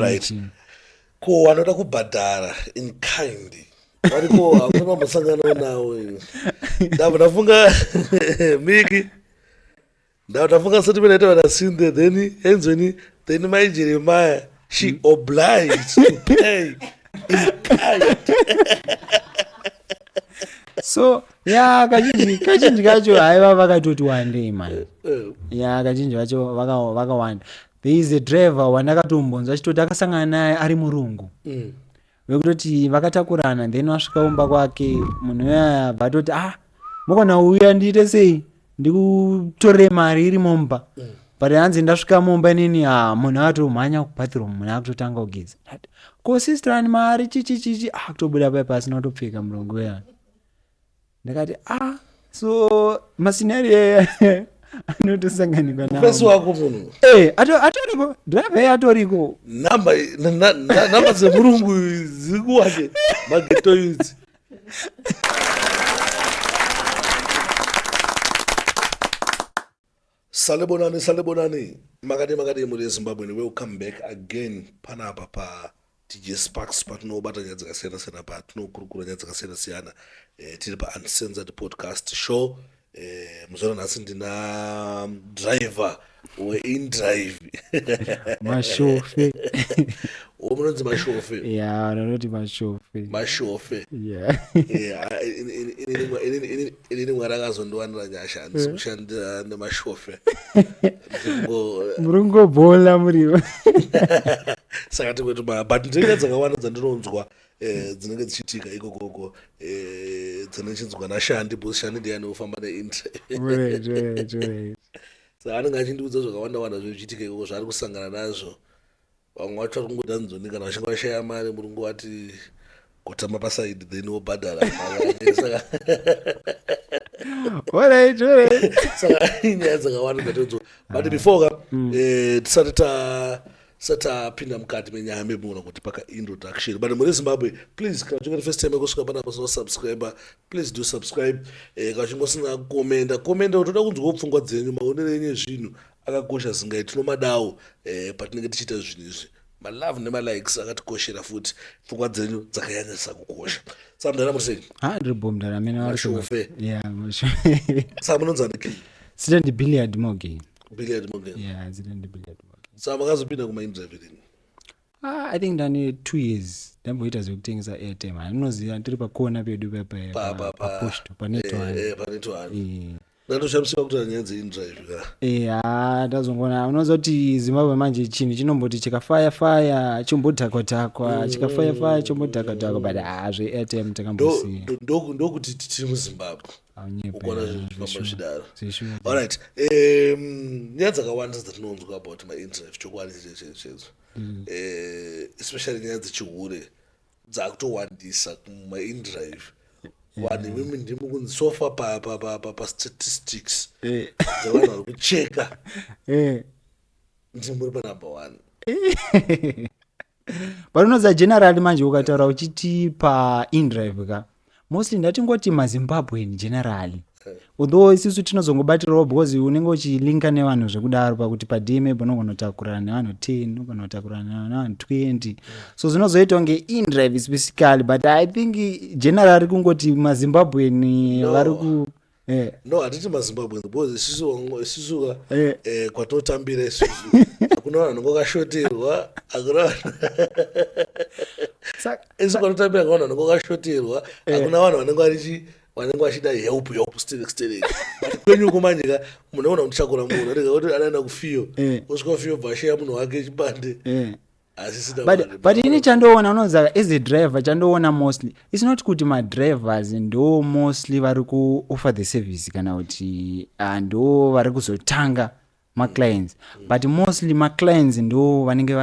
right ko wanoda kubhadhara in kind variko hakuna vambosanganawo nawo ndabva ndafunga miki ndabva ndafunga sati vanaita vana sinde then enzweni then mai jeremaya she mm. obliged to pay in kind so ya kazhinji kazhinji kacho haiva vakatoti wandei mani eh. ya kazhinji vacho vakawanda there is a driver wandakatombonzwa achitoti akasangana naye ari murungu mm. vekutoti vakatakurana then wasvika umba kwake munhu uyaya bva atoti ah mukona uya ndiite sei ndikutorere mari iri mumba mm. but hanzi ndasvika mumba inini ha ah, munhu akatomhanya kubathroom munhu akutotanga kugeza ko sister ani mari chichichichi akutobuda ah, pai pasina kutopfeka murungu uyaya ndakati ah so mascenario aya anotosanganikwa nafesi wako munhu eh, atoriko driver ye atoriko namba dzemurungu dziri kuwake mageto yudzi Salibonani salibonani makadii makadii mhuri yezimbabwean welcome back again panapa pa tj sparks patinobata nyaya dzakasiyana siyana patinokurukura nyaya dzakasiyana siyana eh, tiri pa uncensored podcast show eh, muzoona nhasi ndina driver weindrive mashofe wo munonzi mashofe ya vanoti mashofe mashofe ya Yeah. Eh, ini- ini- ini- ini- ini- inini mwari akazondiwanira nyasha handisi eh. kushandira nemashofe muringobhola muriva saka tikwetu ma but ndinenge dzakawanda dzandinonzwa eh, dzinenge dzichitika ikokoko eh, dzandichinzwa nashandi bcause shandi ndiyani ofamba neintre sa anenge achindiudza zvakawanda wanda zvichitika ikoko zvaari kusangana nazvo vamwe vacho vari kungoda nzoni kana vachinge vashaya mari muri ngovati kutamba pasaidi then wobhadhara nyaya dzakawanda dzatodzo but ah. before ka hmm. eh, tisati ta satapinda mukati menyaya memuona kuti paka introduction but muri zimbabwe please kana uchinge first time yekusvika panapa sina subscriber please do subscribe eh, kana uchinge usina komenda komenda utoda kunzwawo pfungwa dzenyu maonero enyu ezvinhu akakosha zingai tinomadawo eh, patinenge tichiita zvinhu izvi malove nemalikes akatikoshera futi pfungwa dzenyu dzakanyanyisa kukosha sa mudhara muri sei ha ah, ndiri bo mudhara mene mashofe sa munonzani ki sita ndi billiard mogen billiard mogen yeah sita ndi billiard mogen sa makazopinda kumainterview rini Ah, i think ndane two years ndamboita zvekutengesa airtime handinoziva tiri pakona pedu papaposto panetohani eh, eh, ndatoshamisika kuti nyaya dzeindrive ka eh, haa ndazongoona unoziva kuti zimbabwe manje chinhu chinomboti chikafaya faya chombodhakwa dhakwa mm. chikafaya faya chombodhakwa dhakwa but haa zveairtime takambosiya ndokuti tiri muzimbabwe ukona zvinhu zvifamba zvidaro allright nyaya dzakawanda dzatinonzwa about maindrive chokwadi chechechezo mm. eh, especially nyaya dzechihure dzakutowandisa kumaindrive vanhu imimi ndimi kunzi sofa pastatistics eh. dzevanhu vari kucheka eh. ndimi muri panumber one but unoziva generali manje ukataura uchiti paindrive ka mostly ndatingoti mazimbabwean generally although isisu tinozongobatirawo because unenge uchilinka nevanhu zvekudaro pakuti padma panogona kutakurana nevanhu 10 unogona kutakurana nevanhu 20 so zvinozoita kunge indrive specifically but i think generally kungoti mazimbabwean vari ku Eh. no hatiti mazimbabwe because isusuka eh. eh, kwatinotambira isusu hakuna vanhu ngokashoterwa hakuna isu kwanotambira kavanhu vanenge vakashoterwa eh. hakuna vanhu vanenge varichi vanenge vachida help help sterek sterek but kwenyu uko manje ka munoona kuti chakura munhu rega kuti anaenda kufiyo eh. osvika kufiyo bvasheya munhu wake chibande eh. but ini chandoona unonzaka as a driver chandoona mostly its not kuti madrivers ndo mostly vari kuoffer the service kana kuti ah, ndo vari kuzotanga maclients mm. but mostly maclients ndo vanenge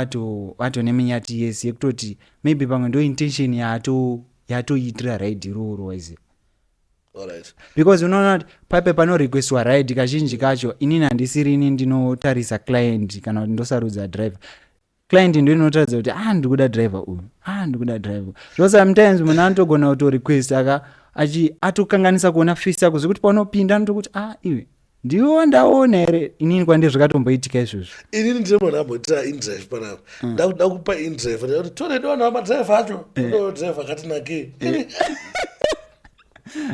vatone minyati yese yekutoti maybe pamwe ndo intention yatoitira raid iroro wise because unoona kuti paipe panorequestiwa ride kazhinji kacho inini handisiri ini ndinotarisa client kana kuti ndosarudza driver client ndo inotaridza kuti ah ndikuda driver uyu ah ndikuda driver so sometimes munhu anotogona kutorequesta ka achi atokanganisa kuona fist yako zvekuti paunopinda anotokuti ah iwe ndiwe wandaona here inini kwandiri zvakatomboitika izvozvo inini ndine munhu amboitira indrive panapa mm. ndakuda kupa indrive ndati tore ndiona madrive acho eh. drive akatinakei eh.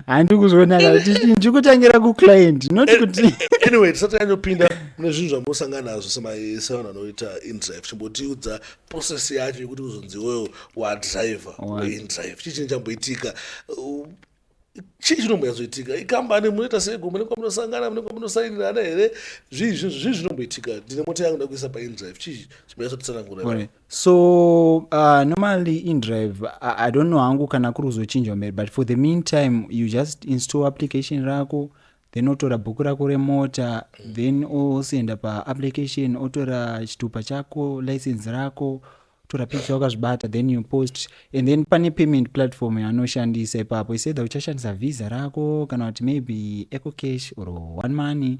handi kuzviona ndiri kutangira kuclient not eh, kuti anyway tisati yanyopinda mune zvinhu zvamosangana nazvo sevanhu vanoita indrive chimbotiudza process yacho yekuti kuzonzi iweyo wadriver indrive chii chinhu chamboitika chii chinombonyazoitika ikambani munoita seiko mune kwamunosangana mune kwamunosainirana here zvii zvii zvinomboitika ndine mota yangu ndakuisa paindrive chii chimanyatsotitsanangura so uh, normally indrive I, i don't know hangu kana kuri kuzochinjwa mberi but for the meantime you just install application rako then otora bhuku rako remota then osenda paapplication otora chitupa chako license rako tora picture wakazvibata then you post and then pane payment platform yanoshandisa ipapo he said that uchashandisa visa rako kana kuti maybe eco cash or one money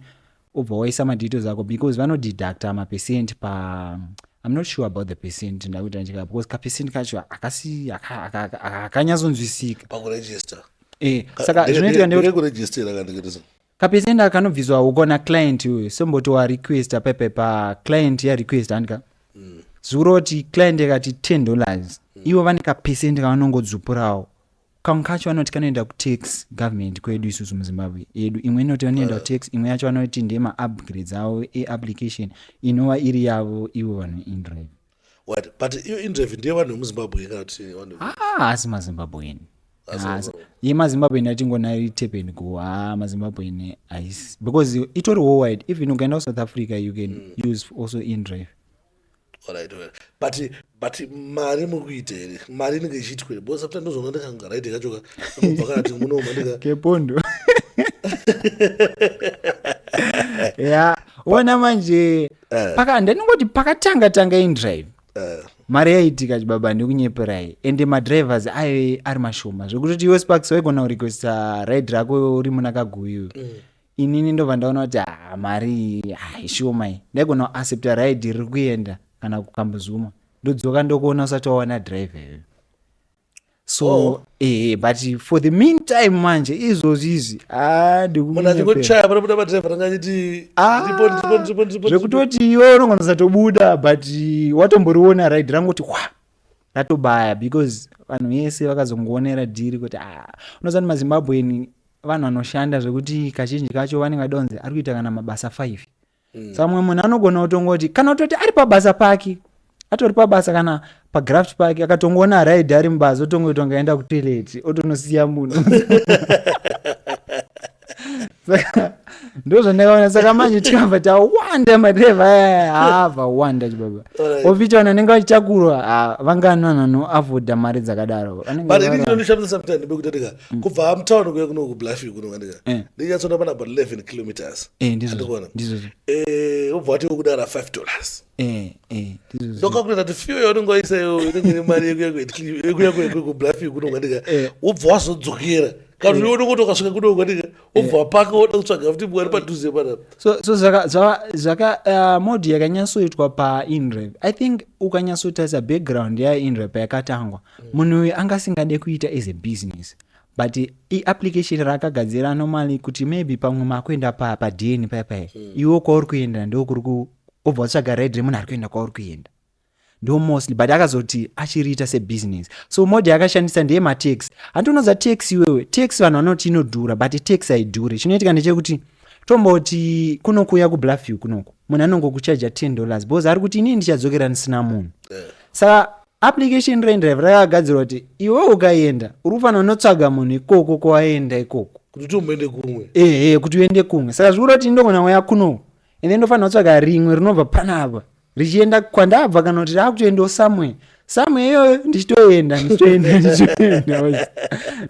obva waisa madetails ako because vanodeducta mapercent pa i'm not sure about the percent ndakuita ndichika because kapercent kacho akasi akanyatsonzwisika pakuregister eh saka zvinoitika ndekuregistera kandikitisa Kapercent aka kanobviswa ukaona client uyu somboti wa requesta pepe pa client ya request handika zvikuroti client yakati 10 dollars ivo vane kapercent kavanongodzupurawo kamwe kacho vanoti kanoenda kutax government kwedu isusu muzimbabwe yedu imwe inoti vanoenda kutax imwe yacho vanoti ndema upgrades avo eapplication inova iri yavo ivo vanoindrive what but iyo indrevi ndiye vanhu vemuzimbabwe kana kuti vanhu Ah, asi mazimbabwean Asi- yemazimbabwean atingonayo itepeni go ha mazimbabwean haisi because itori worldwide even ukaenda kusouth africa you can use also indrive Alright, alright. but but mari muri kuita here mari inenge ichiitwa here because after ndozvona ndikanga right kachoka kubva kana kuti munoma ndika kepondo ya ona manje Eh. paka ndaningoti pakatanga tanga indrive Eh. mari yaitika chibaba ndikunyeperai ende madrivers aive ari mashoma zvekutoti iwe sparks waigona kurequesta raid rako uri muna kaguyu inini ndobva ndaona kuti ah, mari iyi, ah, ishoma iyi ndaigona kuaccepta raid riri kuenda kana kukambozuma ndodzoka ndokuona usati wawana drive iyoyo so oh. eh, but for the meantime manje izvozvi izvi ah, ndikunyepezvekutoti ah, iwe unongonasatobuda but watomboriona ride rangoti wa ratobaya because vanhu vese vakazongoonera dhiri kuti ah, unoziva kuti mazimbabweni vanhu vanoshanda zvekuti kazhinji kacho vanenge vadonzi ari kuita kana mabasa five mm. samwe munhu anogona kutongoti kana utoti ari pabasa pake atori pabasa kana pagraft pake akatongoona raid ari mubasa otongoti angaenda kutoilet otonosiya munhu saka ndo zvandakaona saka manje tikabva tawanda madreva aya haa vawanda chibaba ofiti vanhu vanenge vachitakurwa vangani vanhu vanoavoda mari dzakadaro mm. kubva hamutown kuye kuno kubluffing kuno kanika eh. ndinyatsona pana about 11 kilometers eh, ndikuona eh, ubva wati wekudara 5 dollars ndokakuleta kuti fiyo yaunenge waisa iyo inenge ine mari yekuya kubluffing kuno kanika ubva wazodzokera kana kuti unenge utokasvika kuno kanika ubva eh. paka woda kutsvaga futi mwari padhuze panapa so, so zvaka, zvaka, zvaka uh, modi yakanyatsoitwa painrev i think ukanyatsotarisa background yainrev payakatangwa mm. munhu uyu anga asingade kuita as a business but iapplication raakagadzira normally kuti maybe pamwe makuenda padn pa paya paya mm. iwo kwauri kuenda ndokuri obva tsvaga red remunhu ari kuenda kwauri kuenda ndo mostly but akazoti achiriita sebusiness so mode yakashandisa ndeye matax handinoza tax iwewe tax vanhu vanoti inodhura but tax haidhure chinoitika ndechekuti tomboti kunokuuya kubluffview kunoku munhu anongokuchaja 10 dollars because ari kuti inini ndichadzokera ndisina munhu eh. saka application rendrive rakagadzirwa kuti iwe ukaenda uri kufanira unotsvaga munhu ikoko kwawaenda ikoko kuti utomboende kumwe ehe kuti uende kumwe saka zvikuroti ndogona waya kunoku and then ndofanira kutsvaga rimwe rinobva panapa richienda kwandabva kana kuti raakutoendawo somewhere somewhere iyoyo ndichitoenda ndichitoenda ndichitoenda waizi.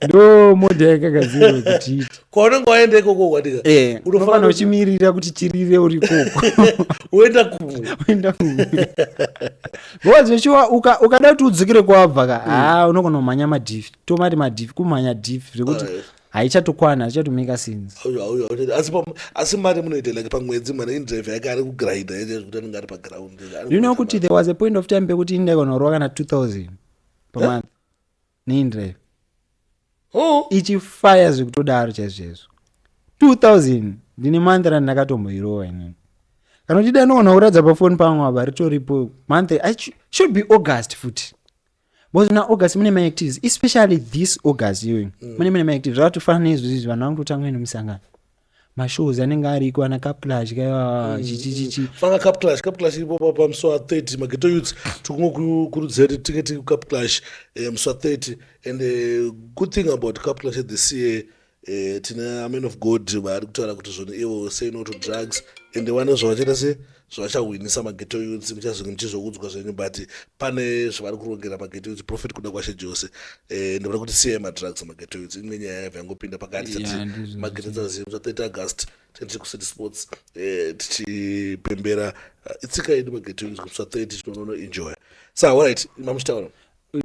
ndo moda yakagadzirwa kuti iite kwaunenge waenda ikoko kwatika Eh, Unofanira unofanira kuti- uchimirira kuti chirire uri ikoko woenda kumwe Uenda kumwe. because vechiwa uka- ukada kuti udzikire kwabva ka haa unogona kumhanya madhifi tomati madhifi kumhanya dhifi zvekuti Alright. haichatokwana zvichatomeka since asi mari munoita like pamwedzi mwana indrive yake ari kugrinda yese zvekuti anenge ari paground you know kuti there was a point of time pekuti indaikonorowa kana 2000 pamonth neindrive oh. ichifaya zvekutodaro chaizvoizvo 2000 ndine month rani ndakatomboirowa inini kana uchida anoona kuratidza pafoni pangu ava ritoripo month should be august futi because muna august mune maactivities especially this august iyoyo mm. mune mune maactivities zvakatofana nezvizvi vanhu vanototanga ine musangano mashows anenge ariko ana caplash kaiwa mm. chichichichi fanga caplash caplash iripo papa musi wa 30 mageto youths tikungokurudzira kuti tinge tiri caplash eh, musi wa 30 and eh, good thing about caplash at the ca eh, tine amen of god vaari kutaura kuti zvoni ivo say no to drugs ende wane zvavachita se zvavachahwinisa mageto youths muchazenge muchizoudzwa zvenyu but pane zvavari kurongera mageto youths profit kuda kwashe jose eh, ende vari kuti siyai madrugs mageto youths imwe nyaya yaiva yangopinda pakati tati mageto dzazimu za 30 august tendiri kucity sports eh, tichipembera eh, itsika yedu mageto youths kusva 30 tinonono enjoya sa so, right mamuchitaura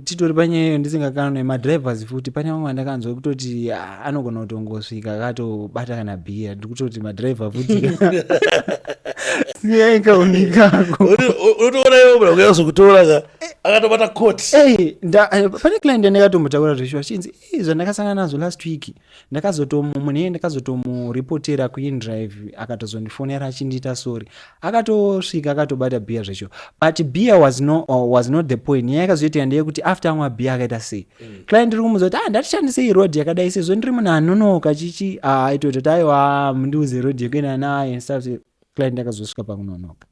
titori panyaya iyo ndisingakanwe madrivers futi pane vamwe vandakanzwa kutoti ah, anogona kutongosvika akatobata kana bhiya ndikutoti madriver futi siyaikaonikako unotoona iwe mura kuya kuzokutora ka akatobata court pane client yandakatombotaura zveshuwa chinzi zvandakasangana nazvo last week ndakazotomu mune ndakazotomuripotera kuindrive akatozondifonera achindiita sorry akatosvika akatobata beer zvacho but beer was, no, uh, was not the point nyaya yakazoitika ndeyekuti after amwa beer akaita sei mm. client iri kumuza kuti ah ndatishandisei road yakadai sezvo ndiri munhu anonoka chichi ah, aitoita kuti aiwa ah, mundiuze road yekuenda naye stuff client akazosvika pakunonoka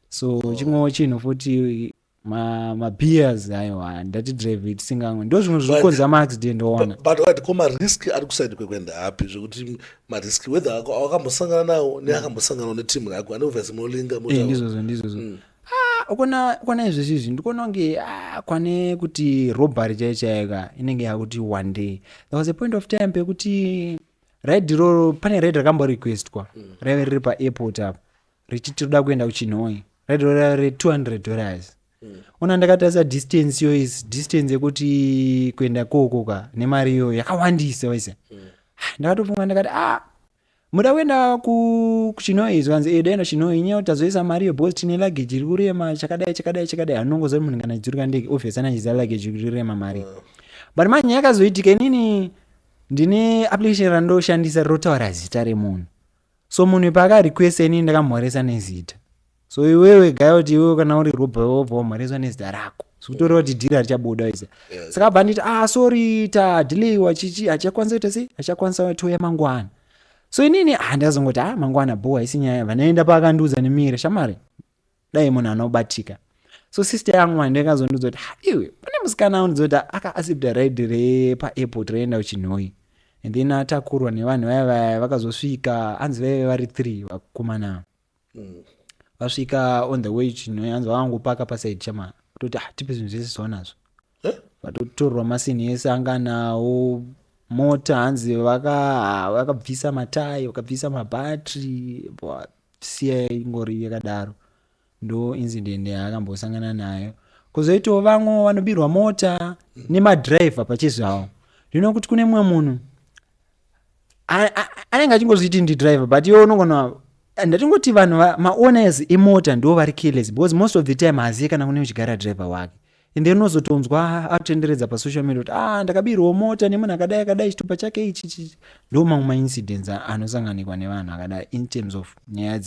so oh. chimwewo chinhu futi mabeers aiwa ndati drive tisingamwe ndo zvimwe zviri kukonza maaccident oona but wait ko marisk ari kusaidi kwekuenda api zvekuti marisk whether wakambosangana nawo neakambosanganawo netimu rako ane obviously molinga eh, ndizvozvo ndizvozvo mm. ah, ukona ukona izvezvi izvi ndikuona kunge ah, kwane kuti robbery chaiyo chaika inenge yakuti one day there was a point of time pekuti raid iroro pane raid rakamborequestwa mm. raive riri paairport apa richiti tinoda kuenda kuchinhoi raidorera re 200 dollars mm. ona ndakatarisa distance yo is distance yekuti kuenda kookoka nemari iyoyo yakawandisa waise mm. Ah, ndakatofunga ndakati ah muda kuenda kuchinoi zvanzi eh, daenda chinoi nyewo tazoisa mari iyo because tine luggage iri kurema chakadai chakadai chakadai anongoziva munhu kana achidzurika ndege obvious anachiziva luggage iri kurema mari mm. but manje nyaya yakazoitika inini ndine application randoshandisa rotaura zita remunhu so munhu paaka request ini ndakamhoresa nezita so iwewe gaya kuti iwewe kana uri robe wobva wamhoreswa nezita rako sikutoreva kuti dhiri harichabuda iza saka bva nditi ah sorry tadhileiwa chichi hachakwanisa kuita sei hachakwanisa touya mangwana so inini handazongoti ah mangwana bho haisi nyaya vanaenda paakandiudza nemire shamari dai munhu anobatika so sister yangu hande kazondiudza kuti haiwe pane musikana andizoda aka accepta ride repaaport raienda kuchinhoyi and then atakurwa nevanhu vaya vaya vakazosvika hanzi vaive vari three vakomana mm. vasvika on the way chinhoyi hanzi vavangopaka pasaid chama kutoti ah, tipe zvinhu zvese zvaonazvo Eh? vatotorwa masini ese anga nawo mota hanzi vaka- vakabvisa matayi vakabvisa mabhatri bwa- siya ingori yakadaro ndo incident yaakambosangana nayo kozoitawo vamwe vanobirwa mota nemadriver pachezvawo ndino kuti kune mumwe munhu a- a- anenge achingozviti ndidriver but iwe unogona ndatingoti vanhu va- maowners emota ndo vari careless because most of the time haziye kana kune uchigara driver wake and then unozotonzwa akutenderedza pasocial media kuti ah ndakabirwa mota nemunhu akadai akadai chitupa chake ichi ichi ndo mamwe maincidents anosanganikwa nevanhu akadai in terms of nyaya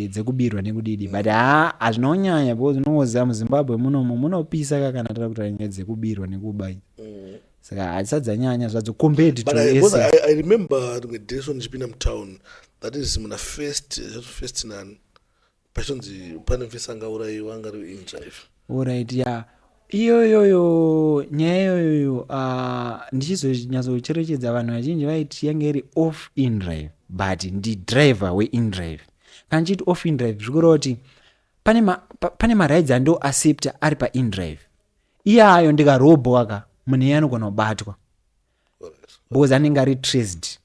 dzekubirwa nekudidi but haa hazvinonyanya because unongoziva muzimbabwe munomu munopisa ka kana tara kutaura nyaya dzekubirwa nekuba mm. saka hadzisadzanyanya zvadzo compared to i remember rimwe dresson ndichipinda mutown that is muna first first nani pachinzi pane mfisa angaurayiwa angari inja ife orit ya iyoyoyo nyaya iyoyoyo ah, ndichizonyatsocherechedza vanhu vazhinji vaiti yange iri off indrive but ndidriver weindrive kana chiti off indrive zvikureva kuti pane ma, pa, pane marights ando accepta ari paindrive iyayo ndikarobhoka munhu iye anogona kubatwa because anenge ari traced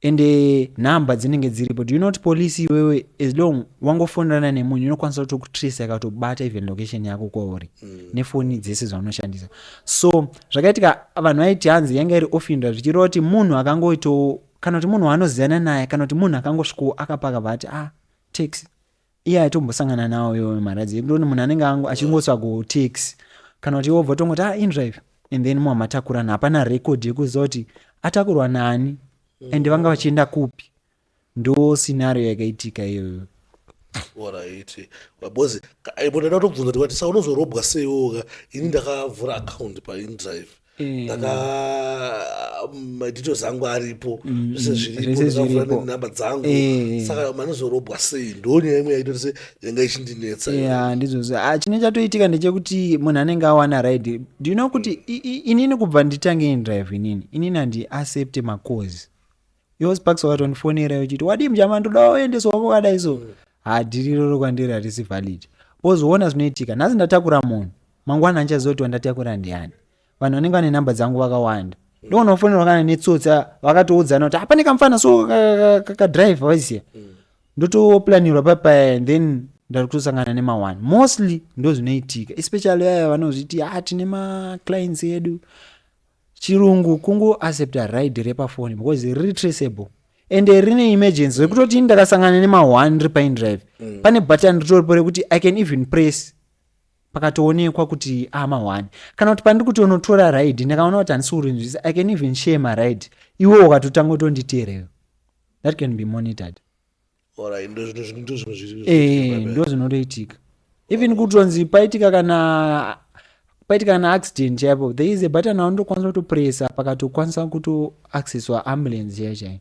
and eh, number dzinenge dziripo do you not police iwewe as long wangofonerana nemunhu inokwanisa kutokutrace yakatobata even location yako kwauri mm. nefoni dzese zvaunoshandisa so zvakaitika vanhu vaiti hanzi yanga iri ofindra zvichireva kuti munhu akangoito kana kuti munhu waanoziyana naye kana kuti munhu akangosvikowo akapaka vati ah taxi iye aitombosangana nawo iwo maradzi ekuti munhu anenge angu achingoswa kutix kana kuti wobva tongoti ah indrive and then mwa matakurana hapana record yekuziva kuti atakurwa nani and vanga vachienda kupi ndo scenario yakaitika iyoyo oraiti because munhu anotobvunza kuti wati sa unozorobwa seiwoka ini ndakavhura account paindrive ndaka madhito mm, zangu aripo mm, zvese mm, zviripondakavura nenhamba dzangu eh. saka manozorobwa sei ndonyaya imwe yaitoti se yanga ichindinetsa ya ndizvozvo ah, chine chatoitika ndechekuti munhu anenge awana ride do you know kuti inini kubva nditange indrive inini inini handiaccepte macozi yo sparks wakatondifonera yochiti wadii mjama ndoda waoendeswa wako kadai so hadiriro rokwandiri harisi valid wozoona zvinoitika nhasi ndatakura munhu Mangwana andichaziva kuti wandatakura ndiani. Vanhu vanenge vane number dzangu vakawanda. Ndoona kufonerwa kana netsotsa vakatoudzana kuti hapane kamfana so kakadrive waiziya. Ndotoplanirwa papaya and then ndari kutosangana nemawani mostly ndozvinoitika especially vaya vanozviti ah tine maclients edu chirungu kungoaccepta ride repafoni because riri traceable and rine emergency rekutoti ini ndakasangana nema1 ri pine drive mm. pane button ritoripo rekuti i can even press pakatoonekwa kuti amahwani kana kuti pandiri kuti unotora ride ndakaona kuti handisi kurinzvisa i can even share maride iwe ukatotanga utonditeereyo that can be monitored eh, ndo zvinotoitika even kutonzi paitika kana paitika kana accident chaipo there is a button aunotokwanisa kutopresa pakatokwanisa kutoaccesswa ambulance chaichai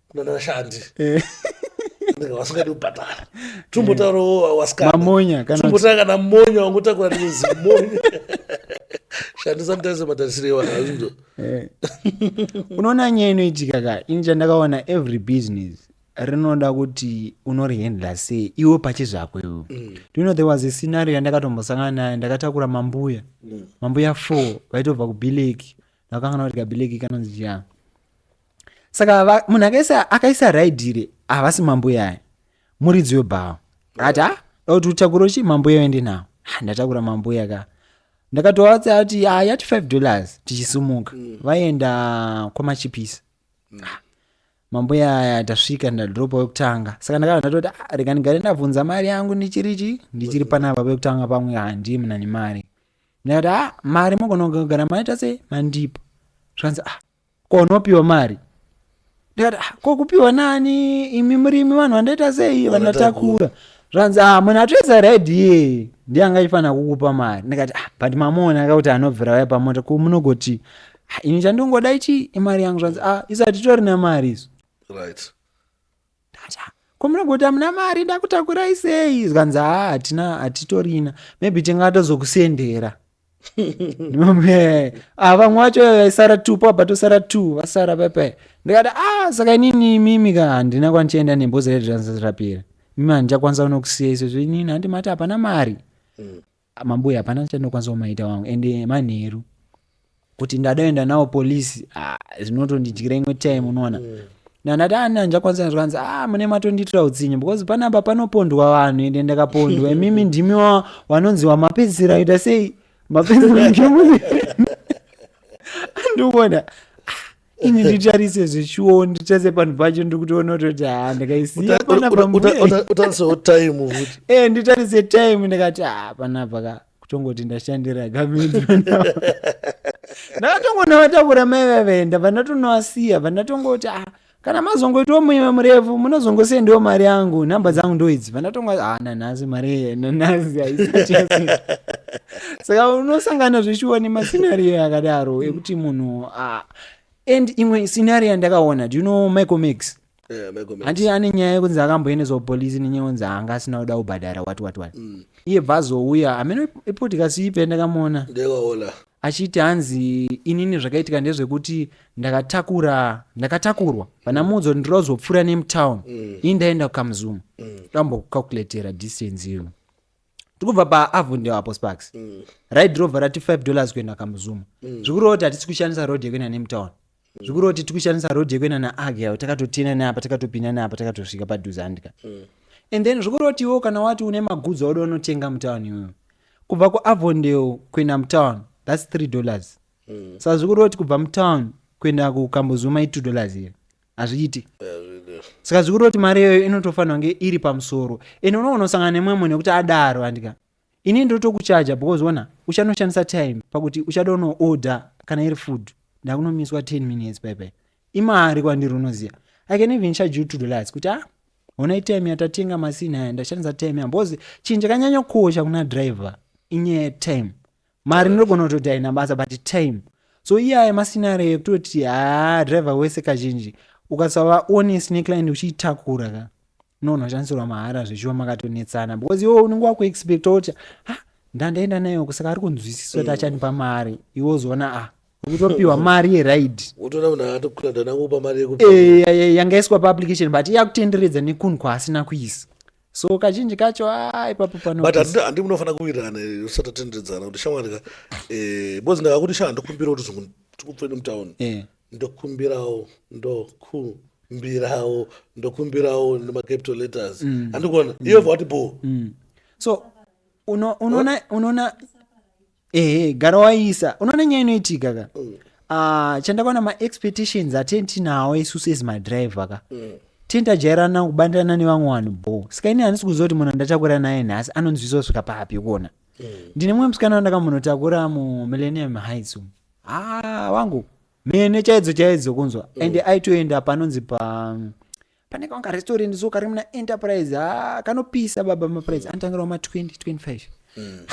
kunana vashandi eh. vasingadi kubhadhara tumbotaurawo eh. wasikanamonya tumbotaura kana monya wangotakura nemuzi monya shandi sometimes matarisiro ewana azvinzo eh. unoona nyaya inoitika ka ini chandakaona every business rinoda kuti unorihandla sei iwe pache zvako iwe mm. do you know there was a scenario yandakatombosangana nayo ndakatakura mambuya mm. mambuya four vaitobva kubhileki ndakakangana kuti kabhileki kanonzi chiyani saka munhu akaisa akaisa raidhire havasi mambo yaye muridzi webhawa ati ha kuti utakura chi mambo yayo ndi nawo ndatakura mambo yaka ndakatovatsa ati yati five dollars tichisumuka mm. vaenda kwamachipisi mm. mambo yaya tasvika ndadropa wekutanga saka ndakava ndatoti ah, rega ndigare ndabvunza mari yangu ndichiri chi ndichiri mm. panapa vekutanga pamwe handii muna nemari ndakati a ah, mari mogona kugara maita sei mandipa zvikanzi a ah, ko unopiwa mari ndikati "Ah, ko kupiwa nani imi murimi vanhu vandaita sei vanatakura zvanzi ah munhu atoisa red iye ndiye anga achifanira kukupa mari ndikati ah but mamuona aka kuti anobvira vaya pamota ko munogoti "Ah, ini chandingoda ichi imari yangu zvanzi ah isu hatitorina mari isu right Tata, ko munoga kuti hamuna mari ndakutakurai sei zvikanzi haa hatina hatitorina maybe tingatozokusendera ah, vamwe wacho vaisara two pabva tosara two vasara pepe ndikati ah saka inini imimi ka handina kwandichaenda nebhozi redransrapira mimi handichakwanisa kunokusiyai sezvo inini handimati hapana mari mm. Amambuya hapana chandinokwanisa kumaita wangu and manheru kuti ndadaenda nawo police ah, zvinotondidyira imwe time unoona mm. nandati ani ah, anjakwanisa zvikanzi ah mune matondiitira utsinye because panapa panopondwa vanhu ende ndakapondwa imimi ndimi wanonzi wamapedzisira aita sei mapedzisira ndikuona ini nditarise zvechuwo nditarise panhu pacho ndikutoona kutoti ha ndakaisiya panapa mutarise time futi e eh, nditarise time ndikati ha panapa ka kutongoti ndashandira gamendi ndakatongoona vatakura mai vavaenda vandatonowasiya vandatongoti ah kana mazongoitiwo muime murefu munozongosendiwo mari yangu nhamba dzangu ndoidzi vandatonga ah nanhasi mari nanhasi haisati saka unosangana zveshuwa nemascenario akadaro ekuti munhu ah, and imwe scenario yandakaona do you know michael max Eh, Michael Max. handi ane nyaya yekunzi akamboendeswa kupolisi nenyaya yekunzi anga asina kuda kubhadhara wati wati wati Mm. iye bva azouya hameno ipodcast ipe ndakamuona Ndakaona. achiti hanzi inini zvakaitika ndezvekuti ndakatakura ndakatakurwa pana mudzo ndirozopfuura nemutown Mm. ini ndaenda kukamzuma ndambokucalculatera distance iyo tikubva paavondeo apo sparks mm. ride rover rati 5 dollars kuenda kamuzuma mm. zvikureva kuti hatisi kushandisa road yekuenda nemtown mm. zvikureva kuti tiri kushandisa road yekuenda naagel takatotina neapa takatopinda neapa takatosvika padhuze handika mm. and then zvikureva kuti iwo kana wati une magudzi auda unotenga mutown iyoyo kubva kuavondeo kuenda mutown thats 3 dollars mm. sa so, zvikureva kuti kubva mutown kuenda kukamuzuma i 2 dollars here hazviiti saka zviri kutoti mari iyoyo inotofanira kunge iri pamusoro ende unoona usangana nemumwe munhu nekuti adaro andika ini ndotokuchaja because ona uchanoshandisa time pakuti uchada unooda kana iri food ndakunomiswa 10 minutes paipai imari kwandiri unoziva i can even charge you to the lights kuti ah hona itime yatatenga masini aya ndashandisa time yambozi chinhu chakanyanyokosha kuna driver inyaya yetime mari ndinogona kutoti haina basa but time so iye aya masinario ekutoti haa driver wese kazhinji ukasava honest neclient uchiitakura ka unogona kushandisirwa mahara zvechiwa makatonetsana because iwe unenge wakuexpecta kuti ha ndandaenda nayo kusaka ari kunzwisisa kuti achandipa mari iwe uzoona ah ukutopiwa mari yeride wotoona munhu akatokura ndanangopa mari yekuti Eh, ya- ya- yanga iswa paapplication but iye akutenderedza nekunhu kwaasina kuisa so kazhinji kacho ah, ipapo panobut handi munofanira kuwirirana usati atenderedzana kuti shamwari ka eh, bcoz ndakakuti shaa ndokumbira kuti zungu tikupfe nemutown eh. ndokumbirawo ndokumbirawo ndokumbirawo nemacapital letters mm. handikuona iyo vati bo mm. so unoona ehe gara waiisa unoona nyaya inoitika ka Ah, chandakaona maexpectations atini tinawo isu sezi madriver ka tini tajairana kubandirana nevamwe vanhu bo saka ini handisi kuziva kuti munhu andatakura naye nhasi anonzwisa kusvika papi kuona ndine mumwe musikana wandakamunotakura mumillennium heights umu. ah wangu mhene chaidzo chaidzo kunzwa and aitoenda panonzi pa pane kamwe karestorendi so kari muna enterprise ha kanopisa baba maprice mm. anotangirawo ma 20 25 mm.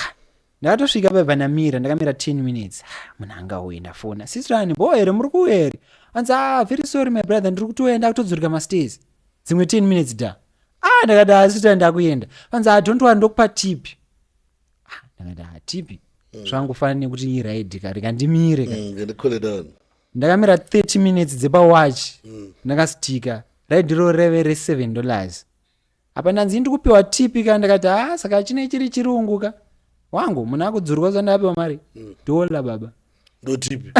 ndakatosvika baba ndamira ndakamira 10 minutes munhu anga uye ndafona sistrani bo here muri kuuya here anzi ah very sorry my brother ndiri kutouya ndakutodzorika masters dzimwe 10 minutes da ah ndakati ah sistrani ndakuenda anzi ah don't worry ndokupa tipi ah ndakati ah tipi mm. zvangu fana nekuti iraidi kari kandimire ka mm, ndakamira 30 minutes dzepawatch mm. ndakastika raidiro reve re7 dollars apa ndanzi ndi kupiwa tipi ka ndakati ha ah, saka chine chiri chirungu ka wangu munhu akudzurwa zvandapiwa mari mm. dolla baba ndotipi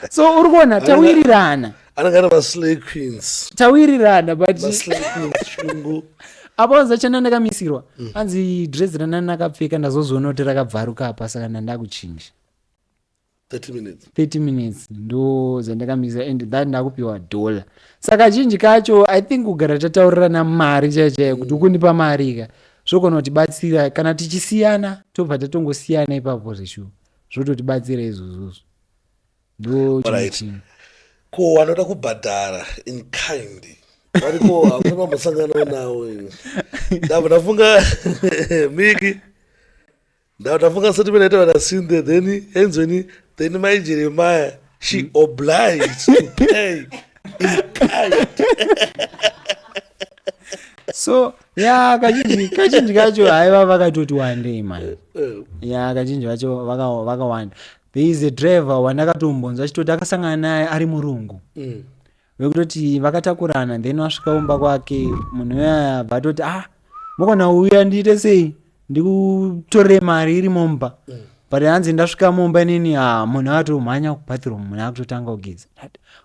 so uri kuona tawirirana anagara vaslay queens tawirirana but apa wanzi achana ndakamisirwa mm. anzi dress ranani akapfeka ndazozviona kuti rakabvaruka apa saka ndandakuchinja 30 minutes 30 minutes ndo zvandakamisa and that ndakupiwa dollar saka chinji kacho i think kugara tataurirana mari chaiyo chaiyo kuti ukundipa mari ka zvogona kutibatsira kana tichisiyana tobva tatongosiyana ipapo zveshuwa zvototibatsira izvozvozvo ndo chimwe Alright. chinhu ko wanoda kubhadhara in kind variko hamuna vambosanganawo nawo imi. Ndabva ndafunga miki Ndafunga sati vanaita vana Cynthia then enzweni then mai Jeremiah she hmm. obliged to pay in kind. so ya kazhinji kazhinji kacho haiva vakatoti wandei mani eh, eh. ya kazhinji vacho vakawanda there is a driver wandakatombonzwa achitoti akasangana naye ari murungu mm. vekutoti vakatakurana then wasvika kumba kwake munhu uyaya abva atoti ah mokona uya ndiite sei ndikutorere mari iri mumba mm. but hanzi ndasvika mumba inini ah munhu atomhanya kubathroom munhu akutotanga kugeza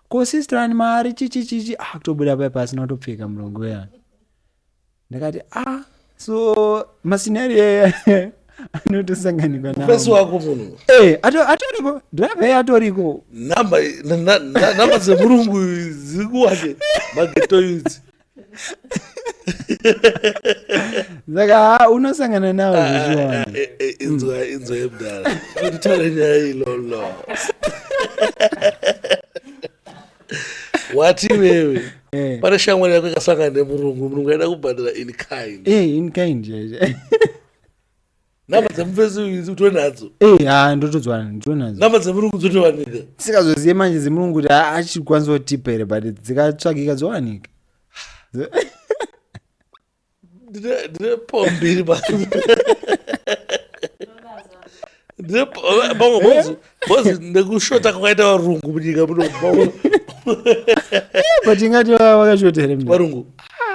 ko sister ani mari chichichichi akutobuda ah, pai pasina kutopfeka murongo uyaya ndakati ah so mascenario aya anotosanganikwa nafesi wako munhu eh, atoriko driver ye atoriko namba dzemurungu dziri kuwache mageto yudzi saka ha unosangana nawo ah, zvichiwana ah, eh, eh, inzwa inzwa yemdara kutitaura nyaya ilolo wati iwewe eh. pane shamwari yako ikasangana nemurungu murungu aida kubhadhara in kind eh, in kind chaizvo nhamba dzemufesi idzi utove nadzo eh, ha ndotodzwana nditove nadzo nhamba dzemurungu dzotowanika sikazozive manje dzemurungu kuti achikwanisa kutipa here but dzikatsvakika dzowanika ndine pfo mbiri pamwe bhozi nekushota kwakaita varungu munyika munobaunga but ingati vakashota here varungu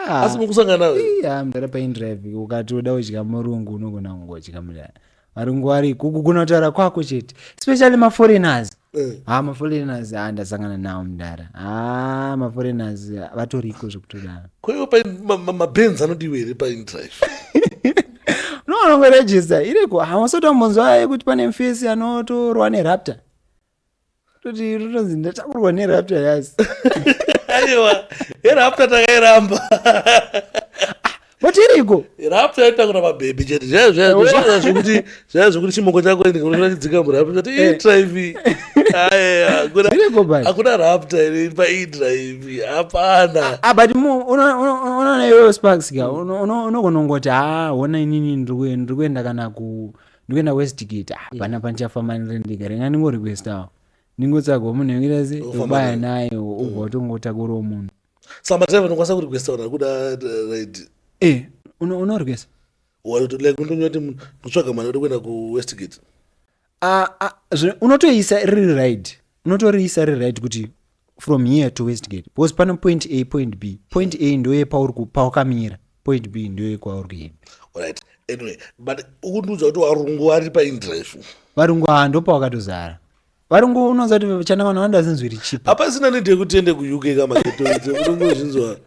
ah. asi mukusangana nawe amdara paindrive ukati uda kudya murungu unogona kungodya mudara arungwari kugona kutaura kwako chete especially maforeigners eh. ha ah, maforeigners ha ah, ndasangana nawo mdara ha ah, maforeigners vatoriko zvekutodaro kwaiwo pamabens anodiwa here paindrive no anongoregista iriko hawasotombonzwa yekuti pane mfesi anotorwa nerapta toti rutonzi ndatakurwa nerapta yas aiwa erapta takairamba motiriko rapta yaitakura mabhebhi chete zvekuti zvaya zvekuti chimoko chako chidzika murapta ti eh. idrive hakuna rapta iri pa idrive hapana ah, but unoona iwewe sparks ka unogonongoti ha hona inini ndiri kuenda kana ku ndikuenda kwesitikiti ah, mm. pana pandichafamba ndiri ndega renga ndingorequestawo ndingotsvagawo munhu wekuita se ubaya naye ubva mm. utongotakura munhu sa madrive ndokwanisa kurequesta kana kuda eh, right e eh, unorequesta like undonyoti ndotsvaga mwana uri kuenda kuwestgate ah, ah, unotoisa riri right unotoriisa riri right kuti from here to westgate because pano point a point b point a ndoye pawakamira point b ndoye kwauri kuenda right anyway but ukundiudza kuti varungu vari paindrive varungu haa ndopawakatozara varungu unoza kuti chana vanhu vandazinzwiri chipa hapasina nede kutende kuuk kamaetoidzo unongozvinzwa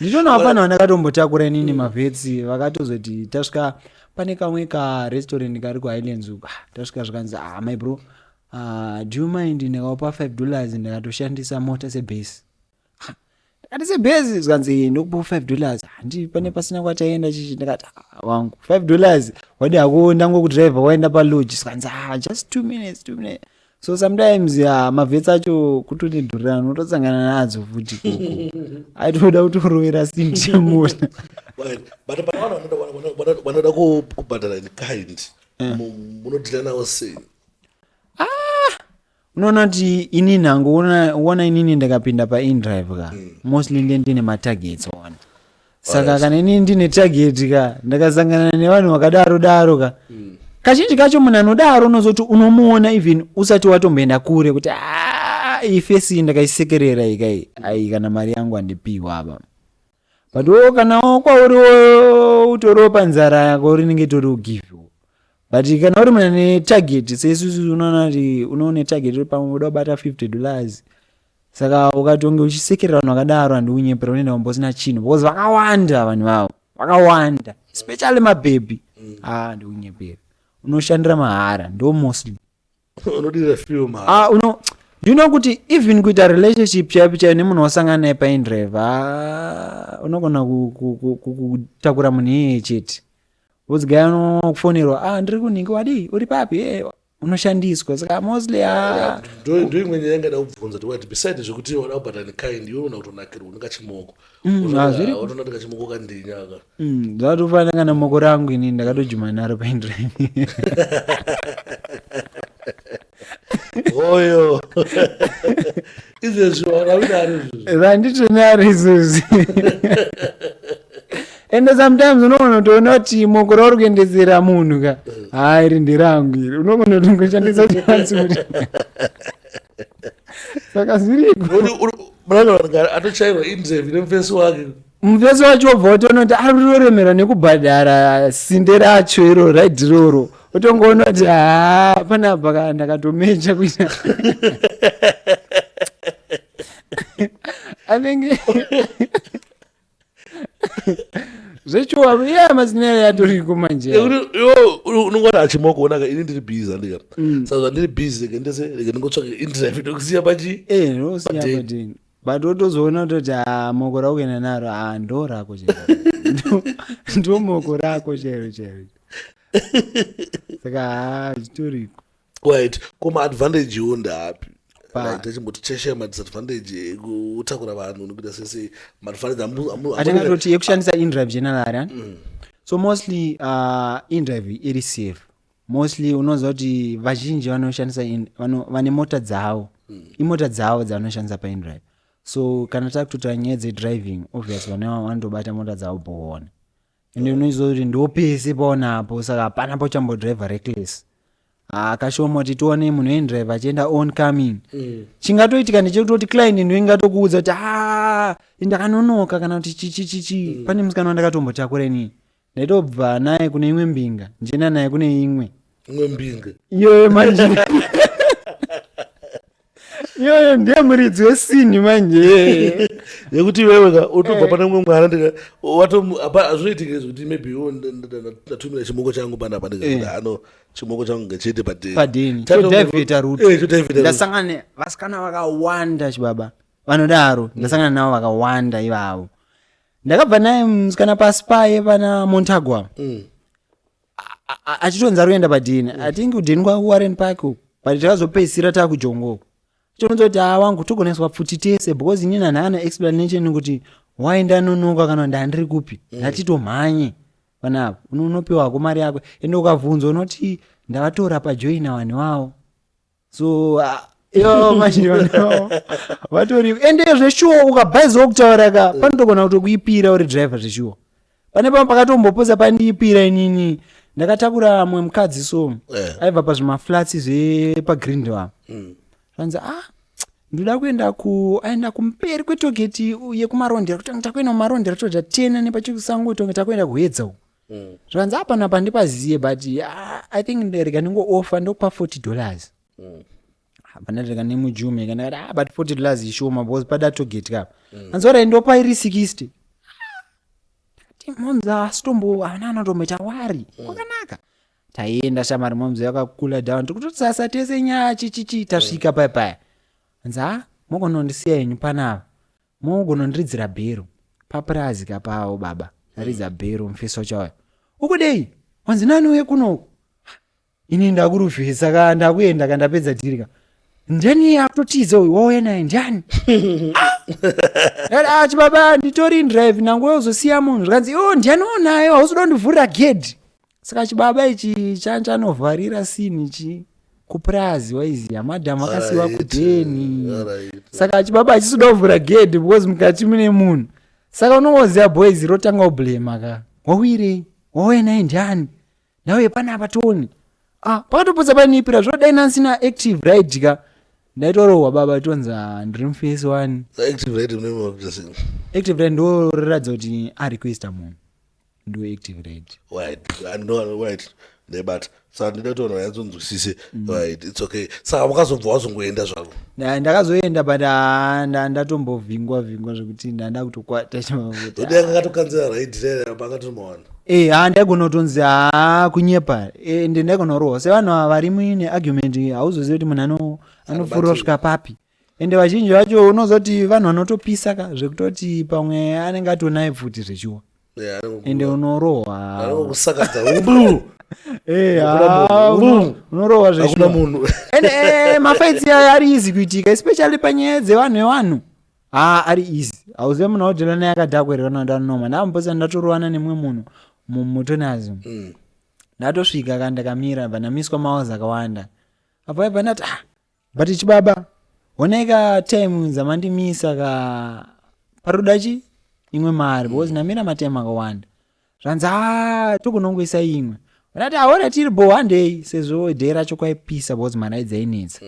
ndichona vafana vandakatombotakura inini mavetsi vakatozoti tasvika pane kamwe karestaurant kari kuhighlands uku ah, tasvika zvikanzi ah my bro ah, do you mind ndikaupa five dollars ndikatoshandisa mota sebase Ah, ndikati sebase zvikanzi ndokupa five dollars handi pane pasina kwataenda chichi ndikati ah, wangu five dollars wadi hako ndango kudriver waenda palodge zvikanzi ah, just two minutes two minutes so sometimes ya mavhets acho kutonedhurira unotosangana nadzo futi aitoda kutorovera sindiamona but pane vanhu vanoda kubhadhara in kind eh. munodhila nawo sei ah! unoona kuti ini nhango uona inini ndakapinda paindrive ka hmm. mostly ndendine matargets ona saka kana ini ndine target ka ndakasangana nevanhu vakadaro daro ka kazhinji kacho munhu anodaro unozoti unomuona even usati watomboenda kure kuti "Ah, iyi fesi iyi ndakaisekerera iyi kai ayi kana mari yangu andipiwa apa but wo kana wo kwauri wo utoriwo panzara yako rinenge itori ugive but kana uri mune target seisusu unoona kuti unoone target uri pamwe unoda kubata 50 dollars saka ukatonge uchisekerera vanhu vakadaro handi unyepera unoenda kumba usina chinhu because vakawanda vanhu vavo vakawanda especially mabhebhi ah handi unyepera unoshandira mahara ndo mostly unodira film ha ah uno you know kuti even kuita relationship chaipi chaiyo nemunhu wasangana naye paindrive ah unogona ku- ku- ku- ku- kutakura munhu iyeye chete wozigai unofonerwa ah ndiri kunhingi wadii uri papi Eh, unoshandiswa saka mostly ah. ndoimwe nyaya ingada kubvunza tikuti beside zvekuti wada kubhata nekind iwe una kutonakirwa une kachimoko mm, ah, watonati kachimoko kandinyaka mm, zvatofana kana moko rangu ini ndakatojuma naro paindrine hoyo izvezvi vakavira ari izvezvi vanditi ne ari izvezvi ende sometimes unogona kutoona kuti moko rauri kuendesera munhu ka haa iri nderangu iri unogona kutongoshandisa chansi kuti saka zviriko atochairwa indrevi nemufesi wake mufesi wacho wobva watoona kuti ari kutoremera nekubhadhara sinde racho iro raidi roro otongoona kuti haa panapa ka ndakatomeja kuita anenge zvechuwa iya mazina ayo atoriko manje Nekuti, yo, uri- unenge wati achimoko onaka ini ndiri busy andika saka zvandiri busy reke ndese reke ndingotsvake internet ndokusiya pachi Eh, ndosiya Padeni. padeni. but wotozoona kutoti ah, moko raukuenda naro a ah, ndo rako chero ndo moko rako chero chero saka ah, zvitoriko right ko maadvantage wo ndaapi tachimboti cheshaya madisadvantage ekutakura vanhu nekuita sese maadvantage atingatoti yekushandisa indrive general mm. so mostly uh, indrive iri safe mostly unoziva kuti vazhinji vanoshandisa vane mota dzavo mm. imota dzavo dzavanoshandisa paindrive so kana takutotaura nyaya dzedriving obvious vane vanotobata mota dzavo boona ende unoziva kuti ndopese paonapo saka hapana pachambodriver reckless akashoma kuti tione munhu endrive achienda on coming mm. chingatoitika ndechekutoti client ndo ingatokuudza kuti a ah, ndakanonoka kana kuti chichichichi mm. pane musikana wandakatombotakura inini Ndaitobva naye kune imwe mbinga ndichienda naye kune imwe. Imwe mbinga. Iyoyo manje. iyoyo ndiye muridzi wesini manje yekuti iwewe ka utobva eh. pane umwe mwana ndika watozvinoitike zvekuti maybe iwo ndatumira chimoko changu pana apa ndikaano eh. chimoko changu ngechete padenichodaivheta rutondasangana eh, vasikana vakawanda chibaba vanodaro mm. ndasangana navo vakawanda ivavo ndakabva naye musikana pasi paye pana montagwa mm. achitonzi ari kuenda padini mm. atingi kudini kwakuwarren park uku but takazopedzisira takujongo uku chinoita kuti haa wangu togoneswa pfuti tese because inini hanhaana explanation kuti why ndanonoka kana ndandiri kupi mm. ndatitomhanye panapa unopiwako mari yako ende ukavhunza unoti ndavatora pajoina vanhu vavo so uh, yo manje vano vatori ende zveshuwa ukabhaizawo kutaura ka panotogona kutokuipira uri driver zveshuwa pane pamwe pakatombopoza pandiipira inini ndakatakura mwe mukadzi so Eh. aibva pazvimaflats zvepagrindel apa zvanzi ah ndoda kuenda ku aenda kumberi kwetogeti yekumarondera kuti takuenda kumarondera toda tena nepachikusango tonge takuenda kuedza uku mm. zvanzi apana pandipaziye but ah, i think nderega ndingoofa ndokupa 40 dollars mm. hapana rega nemujume kana kati ah, but 40 dollars ishoma because pada togeti kapa mm. anzi orai ndopa iri 60 moms asitombo ana anotomboita wari mm. kwakanaka mm taienda shamari momzo yakakula down tikutosasa tese nyaya chichichi tasvika paya paya hanzi ha mokonondisiya henyu panava Mogona ndiridzira bhero papurazi kapawo baba ndaridza bhero mufesi wachauya ukudei wanzi nani uye kunoku ini ndakurufesa ka ndakuenda ka ndapedza dhiri ka ndani akutotiza uyu wauya naye ndani Ah! ati baba nditori drive nangu uzosiya munhu zvikanzi o ndani unayo hausi kuda kundivhurira gedhi saka chibaba ichi chanovharira sini chi kupurazi waiziva madham akasiwa kudheni saka chibaba achisi kuda kuvhura gedhi because mukati mune munhu saka unongoziva boys rotanga ublema ka wawirei wauya naye ndiani ndauye panapa tione ah, pakatopotsa panipira zvodai nansina active right ka ndaitorohwa baba tonzi ah, ndiri mufesi wani active right ndoratidza kuti arequesta munhu ndoactive right right and no right nebata saka ndinoda kuti vanhu vanyatsonzwisise mm. right its okay saka wakazobva wazongoenda zvako ndakazoenda but ah, ndatombovhingwa vhingwa zvekuti ndanda kutokwata chimavutodanga katokanzira raidhirapakatomawana e ha ndaigona kutonzi ha ah, kunyepa ende eh, ndaigona kurohwa sevanhu ava vari muine argument hauzozivi kuti munhu anofurira kusvika papi ende vazhinji vacho unozoti vanhu vanotopisa ka zvekutoti pamwe anenge atonaye pfuti zvechuwa Yeah, anenge ende kukuba. unorohwa Anenge kusakadza Ubu. Eh, Hakuna ah, munhu. uno- Ubu. unorohwa hakuna zvechuwa munhu ende eh, mafaitsi aya ari easy kuitika especially panyaya dzevanhu evanhu haa ari easy hauzive munhu audhela naye akadhakwererana ndanoma ndambosa ndatorovana nemumwe munhu mu- mutonazim Mm. ndatosvika ka ndakamira bva ndamiswa maozi akawanda apo aibva ndati ah but chibaba honai ka time dzamandimisa ka paroda chi imwe mari because namira matime akawanda zvanzi a tokunongoisa imwe ndati aona tiri bo handei sezvo day racho kwaipisa because mari aidzainetsa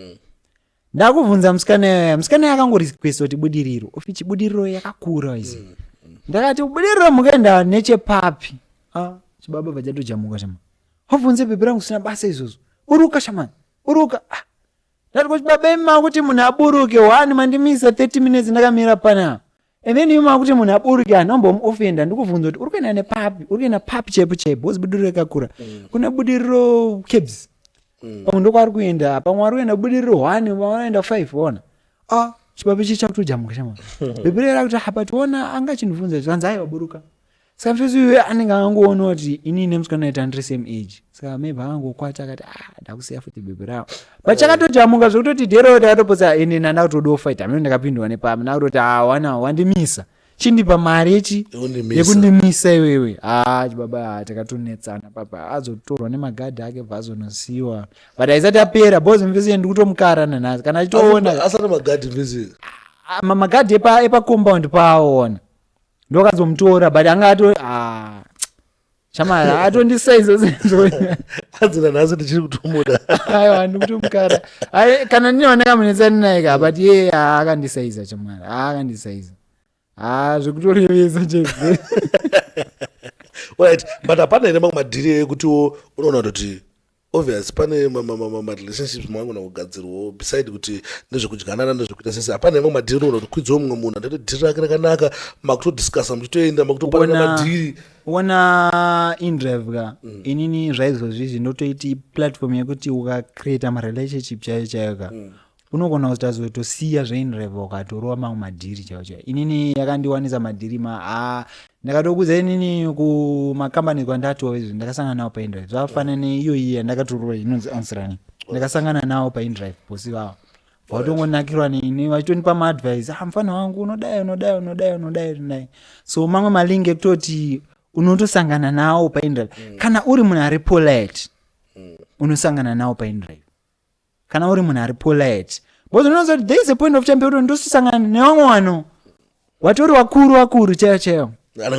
ndakubvunza musikana yaya musikana yakangorequesta kuti budiriro ofi chibudiriro yakakura izi ndakati budiriro mukaenda nechepapi Ah, chibaba vachatojamuka shama wabvunze bhebhi rangu sina basa izvozvo uruka shamani buruka ah, ndati kuti baba imi makuti munhu aburuke wani mandimisa 30 minutes ndakamira panapa and then imi makuti munhu aburuke handombomuofenda ndikuvhunza kuti uri kuenda nepapi uri kuenda papi chaipo chaipo wozi budiriro yakakura mm. kuna budiriro cabs mm. pamwe ndokwaari kuenda pamwe wari kuenda budiriro one pamwe wanoenda five ona ah, chibaba ichi chakutojamuka chama bhebhirera kuti hapa tiona anga chinivhunza zvanzi aiwa buruka saka mfesi uyo anenge akangoona kuti ini nemusikana aita ndiri same age saka maybe akangokwata akati ah ndakusiya futi bhebhi ravo but chakatojamuka zvekutoti dero takatopotsa ende nanda kutodawo fight hameno ndakapindwa nepamwe ndakutoti ah wana wandimisa chindipa mari yechi Yekundimisa. yekundimisa iwewe ah chibaba ah, takatonetsana papa azotorwa nemagadhi ake bva azonosiwa but aisati apera bhozi mfesi yendi kutomukara nanhasi kana achitoona asati magadhi mfesi Ah, ma- magadhi epa, epa compound paaona ndokazomutora but anga ato ah, shamari atondisa izozadzira nhasi ndichiri kutomuda aiwa ndikutomukara kana ndinoona kamunetsani naye ka but ye aakandisaiza chamwari aakandisaiza a zvekutorevesa che right but hapana here mamwe madhiri ekutiwo unoona kuti obvious pane marelationships maangona kugadzirwawo beside kuti nezvekudyanana nezvekuita sese hapana imwe madhiri unogona kuti kwidziwo mumwe munhu andati dhiri rake rakanaka makutodiscasa muchitoenda makutoparana madhiri wona indrev ka mm. inini zvaizozvizvi ndotoiti platform yekuti ukacreata marelationship chaiyo chaiyo ka mm. unogona kuzotazotosiya zvainreva ukatorova mamwe madhiri chaivo chaivo inini yakandiwanisa madhiri ma a ndakatokuza inini kumakambani kwandatova izvi ndakasangana nawo paindrive zvafana neiyoyi yandakatorova inonzi ansirani ndakasangana nawo paindrive bosi vavo vatongonakirwa neni vachitonipa maadvice ah mfana wangu unodai unodai unodai unodai unodai so mamwe malingi ekutoti unotosangana nawo paindrive kana uri munhu ari polite unosangana nawo paindrive kana uri munhu ari polite because unoziva kuti there is a point of time pekuti ndosisangana nevamwe vanhu watori wakuru wakuru chaiyo chaiyo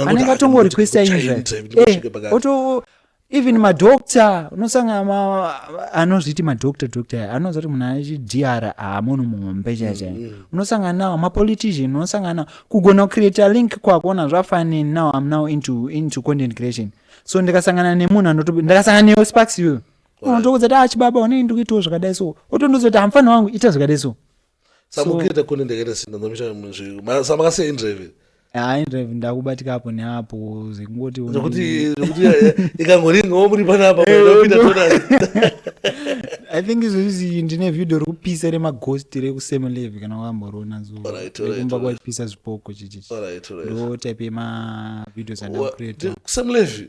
anenge atongo requesta inzvaoto even madoctor unosangana anozviti madoctor doctor aya anoza kuti munhu achidr haamunhu muhombe chaiyo chaiyo mm, mm. unosangana nawo mapolitician unosangana nawo kugona kucreata link kwakuona zvafanini now am now into, into content creation so ndikasangana nemunhu anoto ndakasangana neyo sparks iyoyo unotokudza kuti achibaba ah, onei ndiri kuitawo zvakadai so otondiudza kuti hamufana wangu ita zvakadai so samukita kune ndakaita sinda ndomita muzviko samakasiya indrive hayi ndrive ndakubatika apo neapo zvekungoti zvekuti zvekuti eh, eh, ikangoringawo muri panapa kupinda eh, tona i think izvozvi ndine vhidho rekupisa remaghost rekusame leve kana wakamborona zokumba kwapisa zvipoko chichichi ndo type yemavideos andaakusame leve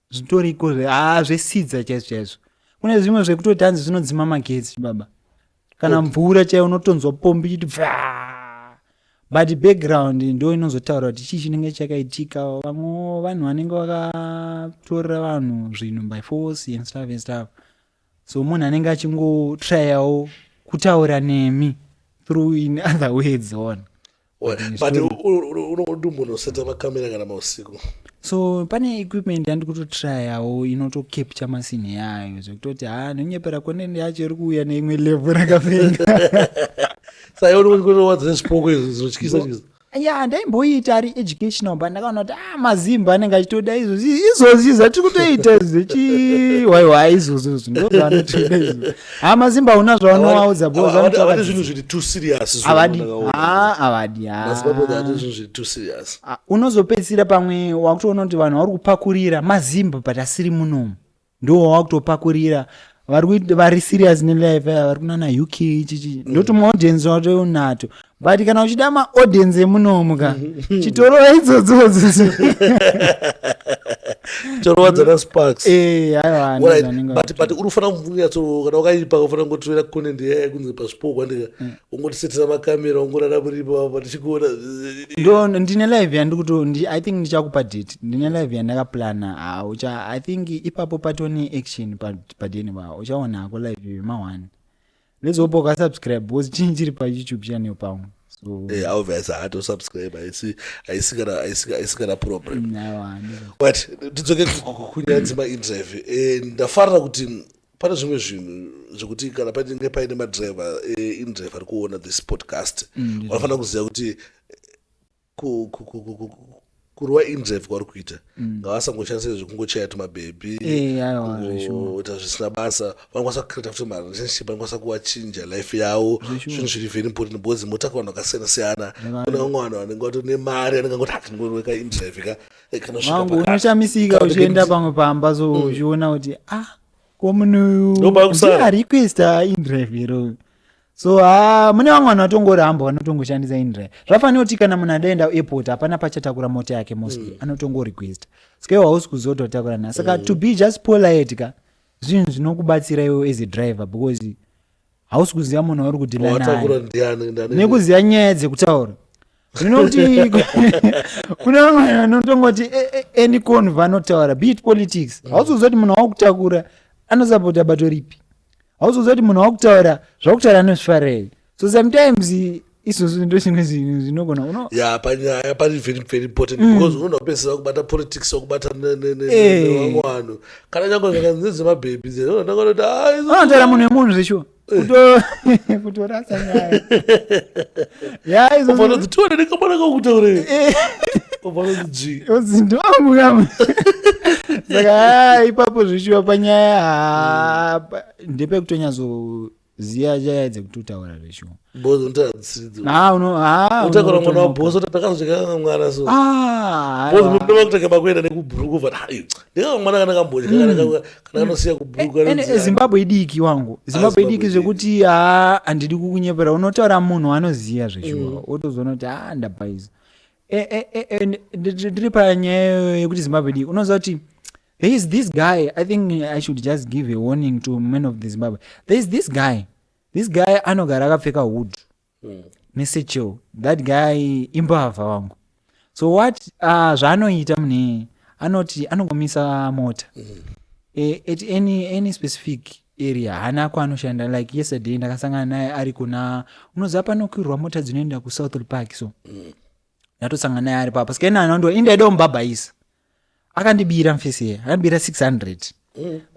zvitoriko haa ah, zvesidza chaizvo chaizvo kune zvimwe zvekutoti hanzi zvinodzima magetsi baba kana okay. mvura chaiyo unotonzwa pombi chiti bvaa but background ndo inozotaura kuti chii chinenge chakaitika vamwe vanhu vanenge vakatorera vanhu zvinhu by force and stuff and stuff so munhu anenge achingotrayawo kutaura nemi through in other ways on but unodi munhu oseta makamera kana mausiku so pane equipment yandikutotrayawo inotocapture masini yayo zvekutoti ha nonyepera koneni yacho iri kuuya neimwe level rakapenga saioni kuti kunowadza nezvipoko izvi zvinotyisa ya ndaimboiita ari educational but ndakaona kuti ah mazimba anenge achitoda izvozvi izvozvi zvatiri kutoita zvechiwaiwa izvozvozvi ndozvaanotoda izvo ha mazimba una zvavanovaudza bozvavati zvinhu zviri too serious avadi ha avadi unozopedzisira pamwe wakutoona kuti vanhu vari kupakurira mazimba but asiri munomu ndiwo wakutopakurira vari serious nelife aya vari kunana uk chichi ndoti maaudience watonato but kana uchida maaudience emunomu ka chitorowa idzodzodzo chitorowa dzana sparks eh, but uri kufanira kumbunyatsokana wakaipa ufanira kungotirera content yaya kunzi paspokwa ndika mm. ungotisetera makamera ungorara muripo apa tichikuona ndo ndine live yandikuto i think ndichakupa date ndine live yandakaplana haucha i think ipapo patone action padeni vavo uchaona hako live iyo yemahwani let's hope ukasubscribe because chinyi chiri payoutube channel pangu so eh, obvious haatosubscribe haisi haisi kana haisi haisi kana problem mm, but tidzoke kunyaya dzemainterview eh, ndafarira kuti pane zvimwe zvinhu zvekuti kana painenge paine madriver eh, indriver ari kuona this podcast mm, vanofanira kuziva kuti eh, kurova indrive kwavari kuita mm. ngavasangoshandisa zvekungochaya tumabhebhi kuita zvisina basa vanokwanisa kucreata futi marelationship vanokwanisa kuvachinja life yavo zvinhu zviri very important because motaka vanhu vakasiyana siyana kune vamwe vanhu vanenge vato nemari anenge angoti hatingoroveka indrive ka mangu unoshamisika uchienda pamwe pamba so mm. uchiona kuti ah ko munoyuariquesta indrive iro so ha ah, mune vamwe vanhu vatongoramba vanotongoshandisa indrive zvafanira kuti kana munhu adaenda airport hapana pachatakura mota yake mostly mm. anotongorequesta sike hausi kuzoto watakura nayo saka mm. to be just polite ka zvinhu zvinokubatsira iwo as a driver because hausi kuziva munhu wauri kudhila watakura naye ndiani ndani nekuziva nyaya dzekutaura zvino kuti kune vamwe vanotongoti "Eh, eh, any con vanotaura be it politics hausi kuziva kuti munhu wakutakura anosapota bato ripi hausi kuziva kuti munhu wakutaura zvakutaura anozvifarei so sometimes izvozvo ndochimwe zvinhu zvinogona uno ya panyaya pari very very important mm. because unogona kupedzisira kubata politics wakubata nevamwe vanhu kana nyange zvakanzi nezvemabhebhi zenonakanoti anotaura munhu wemunhu zveshuwa kutorasa nyaya yaizofanoti tione ndikamwana kakutaurei ndovanguyamu saka ipapo zvishuwa panyaya ndepekutonyatso ziya nyaya dzekututaura zveshuwa Boss unotanga kutsidzo. Ah, uno- ah, Utakura uno- mwana wa boss kuti takazvika mwana so. Ah, Boss aiwa. mimi ndoma kutaka makuenda nekubhuruku vana. Hayi. Ndika mwana kana kamboja kana kana kana anosiya kubhuruku. Ene- anonzi, zimbabwe idiki wangu zimbabwe Zimbabwe idiki idiki. zvekuti haa handidi kukunyepera unotaura munhu anoziya zveshuwa wotozoona kuti haa ndapaiza Eh, eh, eh, eh, ndi- ndi- ndiri panyaya yekuti zimbabwe dii unoziva kuti there is this guy i think i should just give a warning to men of the zimbabwe there is this guy this guy anogara akapfeka hood nesechel that guy imbavha wangu so what uh, zvaanoita mune anoti anongomisa mota eh, at any, any specific area haana kwaanoshanda like yesterday ndakasangana naye ari kuna unoziva panokwirwa mota dzinoenda kusouthall park so ndatosangana naye ari papa sikaina anandiwa indi aida kumubhabhaisa akandibira mfesi iye akandibira 600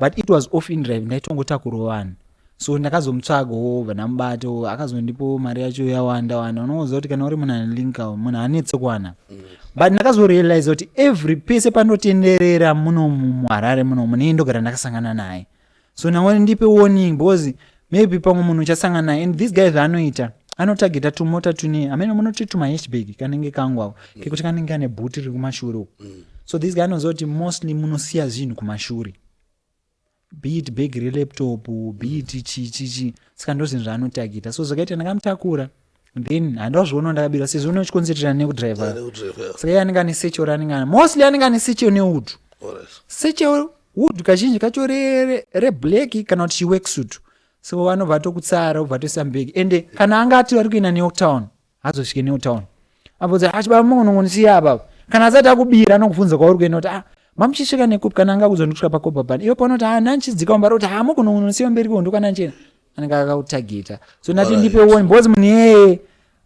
but it was off in drive ndaitongotakurwa vanhu so ndakazomutsvaga wobva ndamubata wo, akazondipo mari yacho yawanda wanda unoziva kuti kana uri munhu anelinka munhu anetse kuwana but ndakazorealiza kuti every pese panotenderera munomu muharare munomu neiye ndogara ndakasangana naye so nawo ndipe warning because maybe pamwe munhu uchasangana naye and this guy zvaanoita anotageta tumota tune hameno munoti tumahashbag kanenge kangu ako mm. kekuti kanenge kane bhuti riri kumashure uku mm. so this guy anoziva kuti mostly munosiya zvinhu kumashure be it bag relaptop be it chichichi saka ndozvinhu zvaanotageta so zvakaita ndakamutakura then handiwa zviona ndakabirwa sezvo une chikonzertera nekudriver saka iye anenge ane secho ranenge ana mostly anenge ane secho newood secho wood kazhinji kacho reblack re kana kuti chiweksuit so vanobva atokutsara obva atoisa mbeki ende kana anga ati vari kuenda newtown hazosvike newtown abvunza achibaa ah, maunongonisiya apapa kana asati akubira anokubvunza kwauri kuenda kuti ah mamuchisvika nekupi kana anga kuzwa ndikusvika pakopa bani iwe panoti ah nanchidzika wambara kuti hamukunongonisiya ah, mberi kondo kana nchena anenge akakutargeta so ndati Alright. ndipe one because munhu iyeye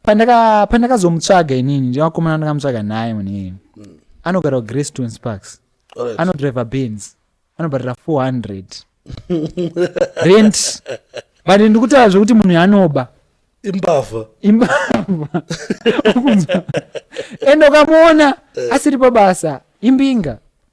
pandaka- pandakazomutsvaga inini ndivakomana ndakamutsvaga naye munhu iyeye anogara kugrestone sparks Alright. anodriver bens anobhadhara 400 rent but ndikutaura zvekuti munhu yanoba imbavha imbavha Ukunzwa? ende ukamuona asiri pabasa imbinga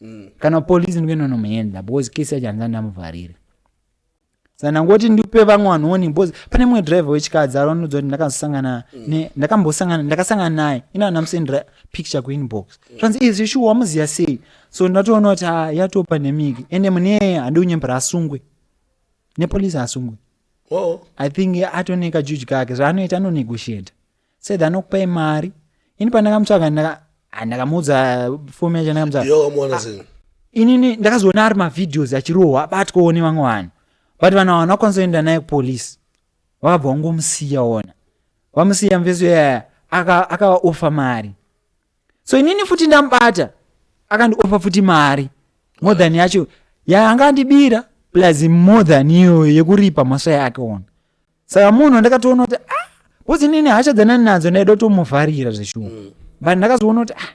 mm. kana police ndinge ndonomuenda because kesi yacho handisa ndamuvharira saka ndangoti ndipe vamwe vanhu woni because pane mumwe driver wechikadzi aronudza kuti ndakazosangana mm. ndakambosangana ndakasangana naye ina ndamusendera picture kuinbox mm. zvanzi mm. izvi shuwa wamuziva sei so ndatoona kuti ha ah, yatopa nemiki ende mune handiunyembera asungwe nepolice asungwe oh. i think atoneka juji kake zvaanoita anonegotiata said anokupai mari ini pandakamutsvaga ndaka- ah, ndakamuudza fomu yacho ndakamutsvaga Yo, wamuwana sei? inini ndakazoona ari mavideos achirohwa abatwawo nevamwe vanhu but vanhu ava vanokwanisa kuenda naye kupolice vakabva vangomusiya ona vamusiya mveso yaya aka- akavaofa mari so inini futi ndamubata akandiofa futi mari more than yacho yaanga andibira plus more than iyoyo yekuripa mhosva yake ona saka munhu ndakatoona kuti ah bcause inini hasha dzanani nadzo ndaida kutomuvharira zveshuwa mm. but ndakazoona kuti ah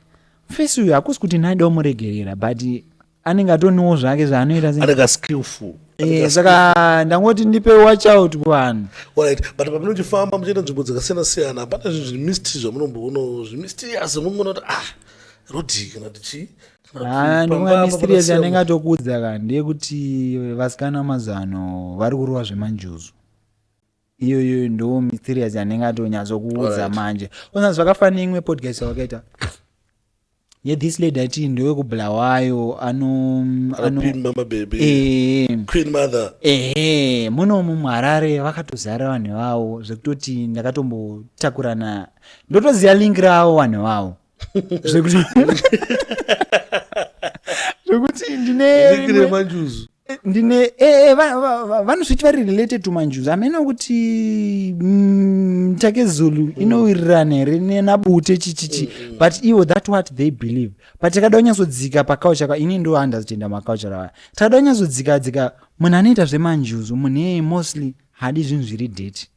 mfesi uyu hakusi kuti ndaida kumuregerera but anenge atoniwo zvake zvaanoita anenge skillful Eh, saka ndangoti ndipe watch out kuvanhu right but pamunochifamba muchienda nzvimbo dzakasiyana siyana hapana zvinhu zvimistry zvamunomboono zvimistirias mumonoti ah rodii kana tichii Ah, ndinonga mysterious yanenge atokuudza ka ndeyekuti vasikana mazano vari kurova zvemanjuzu iyoyo ndo mysterious yanenge atonyatsokuudza manje ona zvakafanira imwe podcast yawakaita ye this lady ati ndewekubulawayo ano ehe munomu muharare vakatozara vanhu vavo zvekutoti ndakatombotakurana ndotoziva link ravo vanhu vavo zvekuti ndinemanjuzu ndine eh, eh, vanosviti vari related to manjuzu amene kuti mm, take zulu mm. inowirirana here nenabute chichichi mm, but ivo that what they believe but takada kunyatsodzika pacoucha ka ini ndo andazitenda macoucha rawaya takada kunyatsodzika dzika munhu anoita zvemanjuzu munhu iyeye mostly hadi zvinhu zviri date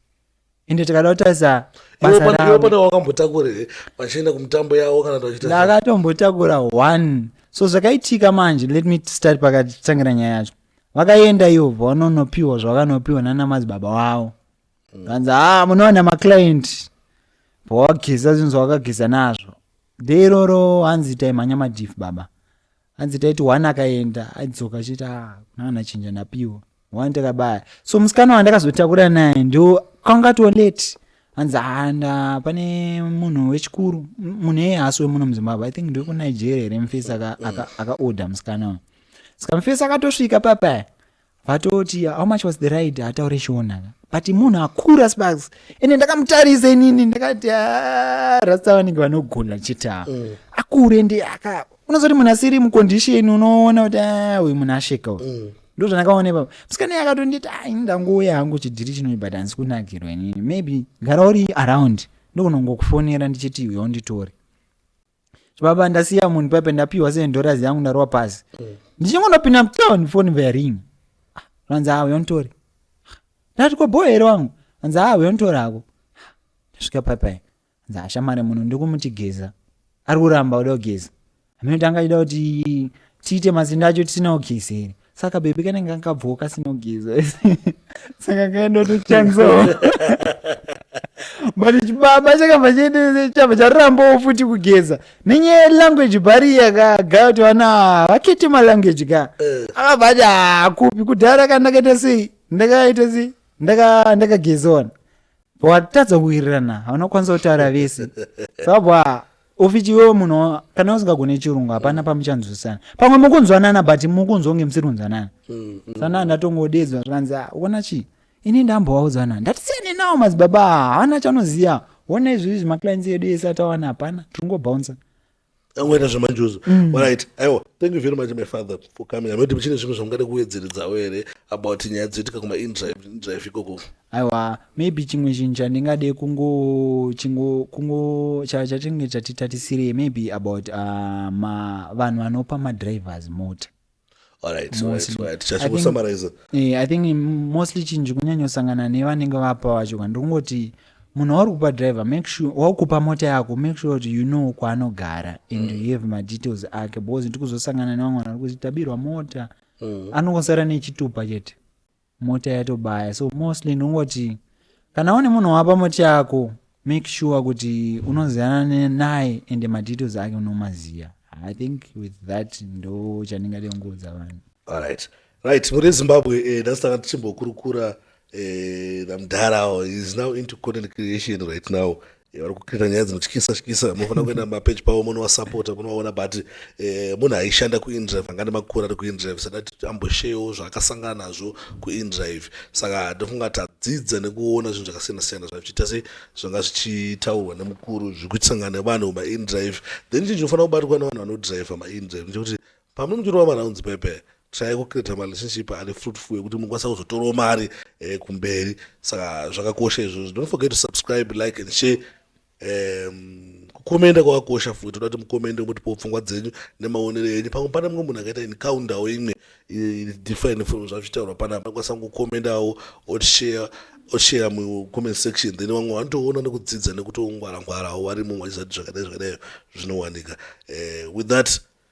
ende tikada kutarisa basaiwepana wakambotakura here vachienda kumutambo yavo kana ndakatombotakura one so zvakaitika manje let me start pakatitangira nyaya yacho vakaenda ivo vanonopiwa zvavakanopiwa nana madzibaba wavo vanzi hmm. ha ah, munowana maclient bwawageza zvinhu zvawakageza nazvo deiroro hanzi itai mhanya madif baba hanzi taiti one akaenda aidzoka achiti a ah, kunana chinja napiwa one takabaya so musikana wandakazotakura naye ndo kwanga to late hanzi handa ah, pane munhu wechikuru munhu eye haasi wemuno muzimbabwe i think ndokunigeria here mufesi akaorder aka, aka musikana uyu saka mufesi akatosvika papaya vatoti how much was the ride ataure chiona but munhu akura sparks ende ndakamutarisa inini ndakati ah, rasta vanenge vanogona chita mm. akure ende aka unozoti munhu asiri mucondition unoona kuti ah, uyu munhu asheka uyu mm. ndo zvandakaona ipapo musikana iye akatonditi a ah, ini ndangouya hangu chidhiri chinoi but handisi kunakirwa inini maybe gara uri around ndokunongokufonera ndichiti uyo nditore baba ndasiya munhu paipe ndapiwa seven dollars yangu ndarova pasi ndichingonopinda mtown phone vaya ring vanzi awe yonitori ndati ko boy here wangu vanzi awe yonitori ako ndasvika paipai vanzi ashamare munhu ndiri kumuti geza ari kuramba kuda kugeza hameno tanga achida kuti tiite mazinda acho tisina kugeza here saka bebe kanenge kakabvawo kasinogeza saka kaendotochanzawo but chibaba chakabva chiendese chabva charambawo futi kugeza nenyaya yelanguage bariya ka gaya kuti vana ava vakete malanguage ka akabva ati hakupi kudhara ka ndakaita sei ndakaita sei Ndaka- ndakagezawana watadza kuwirirana hauna kwanisa kutaura vese sabwa ufichi iwewe munhu kana usingagone chirungu hapana pamuchanzwisana pamwe mukunzwanana but mukunzwa kunge musiri kunzwanana mm, mm. sanaa ndatongodedzwa zvikanzi ah, uona chii ini ndambowaudzana ndati siyane nawo madzibaba ah, haana chanoziva ona izvi izvi maclines edu ese atawana hapana tiri ngobounsa angoita zvemanjuzu mm. orit aiwa thank you very much my father for coming amati muchine zvimwe zvamungade kuwedzeredzawo here about nyaya dzoitika kumaindrive ikoko Aiwa maybe chimwe chinhu chandingade kungo chingo kungo chatinge chatitatisirei maybe about uh, ma vanhu vanopa madrivers mota eh, i think mostly chinhu chikunyanyosangana nevanenge vapa vacho ka ndikungoti munhu wauri kupa driver make sure wakukupa mota yako make sure kuti you know kwaanogara and mm. you have madetails ake because ndikuzosangana nevamwe vanhu vari kuti tabirwa mota mm. anongosara nechitupa chete mota yatobaya so mostly ndongoti kana une munhu wapa mota yako make sure kuti unoziyana naye ende madetails ake unomaziva i think with that ndo chandingade kungoudza vanhu alright right muri zimbabwe eh, nhasi tanga tichimbokurukura eh, namdhara awo is now into content creation right now vari kucreata nyaya dzinotyisa tyisa munofanira kuenda mapeji pavo munovasapota munovaona but eh, munhu aishanda kuindrive anga nemakore ari kuindrive sada titi ambosheyewo zvaakasangana nazvo kuindrive saka ndofunga tadzidza nekuona zvinhu zvakasiyana siyana zvachiita se zvanga zvichitaurwa nemukuru zviri kutisangana nevanhu mumaindrive then chinhu chinofanira kubatwa nevanhu vanodrive maindrive ndechekuti Pamwe muchirova marounds pepe try kucreata marelationship ane fruitful ekuti munokwanisa kuzotorawo mari eh, kumberi saka zvakakosha izvozvo don't forget to subscribe like and share um, kukomenda kwakakosha futi toda kuti mukomende motipawo pfungwa dzenyu nemaonero enyu pamwe pane mumwe munhu akaita incoundawo imwe different from zvazvitaurwa pana anokwanisa kukomendawo otshare oshare mucomment section then vamwe vanotoona nekudzidza nekutongwarangwarawo vari mumwe achizati zvakadai zvakadai zvinowanika uh, with that